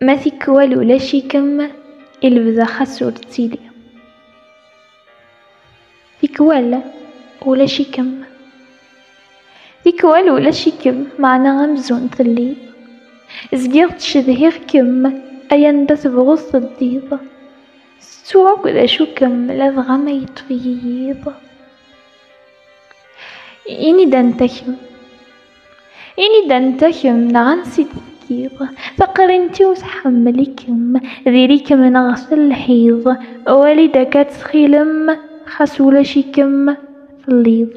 Ma tikwal ulac-ikem i lebda xas ur ttili Tikwal ulac-ikem Tikwal ulac-ikem meɛna amzun telliḍ Zgiɣ ttcedhiɣ-kem ay anda tebɣuḍ teddiḍ Tettuɣ akk d acu-kem ladɣa ma yeṭṭef-iyi yiḍ Ini-d anta kemm. Ini-d anta kemm neɣ ansi d-tekkiḍ. Taqrint-iw tḥemmel-ikem, diri-kem neɣ s lḥiḍ. Wali-d akka ttxilem, xas ulac-ikem telliḍ.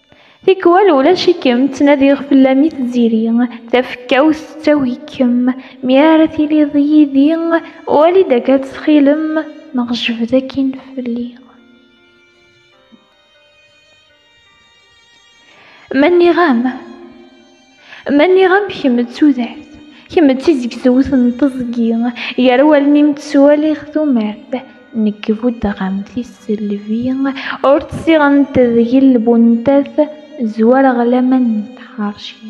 Tikwal ulac-ikem, ttnadiɣ fell-am i tziri, tafekkawt tettawi-kem, mi ara tiliḍ yid-i, wali-d akka ttxilem, neɣ jbed akkin fell-i. Ma nniɣ-am. Ma nniɣ-am kemm d tudert, kemm d tizegzewt n teẓgi, gar wallen-im ttwaliɣ tumert, nekk buddeɣ-am tisselbi, ur tt-siɣent deg-i lbuntat, zwareɣ laman n tḥerci.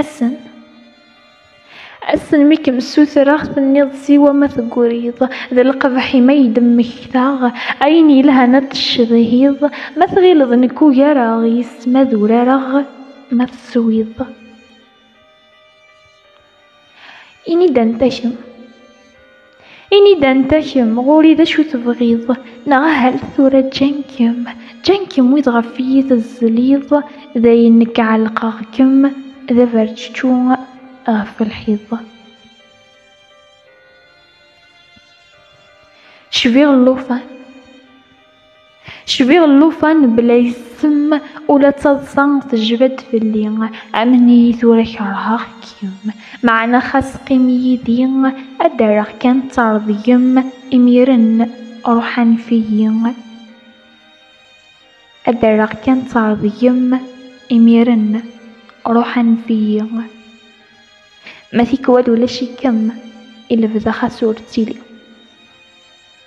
Assen. Assen mi kem-ssutreɣ tenniḍ siwa ma tegriḍ d lqebḥ i ma yi-d-mmektaɣ ayen yelhan ad t-tcedhiḍ ma tɣileḍ nekk ugareɣ yes ma d urareɣ ma teswiḍ. Ini-d anta kemm. Ini-d anta kemm, ɣur-i d acu tebɣiḍ, neɣ ahal tura ǧǧan-kem, ǧǧan-kem wid ɣef iyi tezzliḍ, d ayen nekk ɛellqeɣ-kem d aberčečču ɣef lḥiḍ. Cbiɣ llufan. Cbiɣ llufan bla isem ula d taḍsa tejba-d fell-i Amen-iyi tura kerheɣ-kem Meɛna xas qqim yid-i Ad d-rreɣ kan ttardgem Imiren ruḥ anef-iyi Ad d-rreɣ kan ttardgem Imiren ruḥ anef-iyi Ma tikwal ulac-ikem I lebda xas ur ttili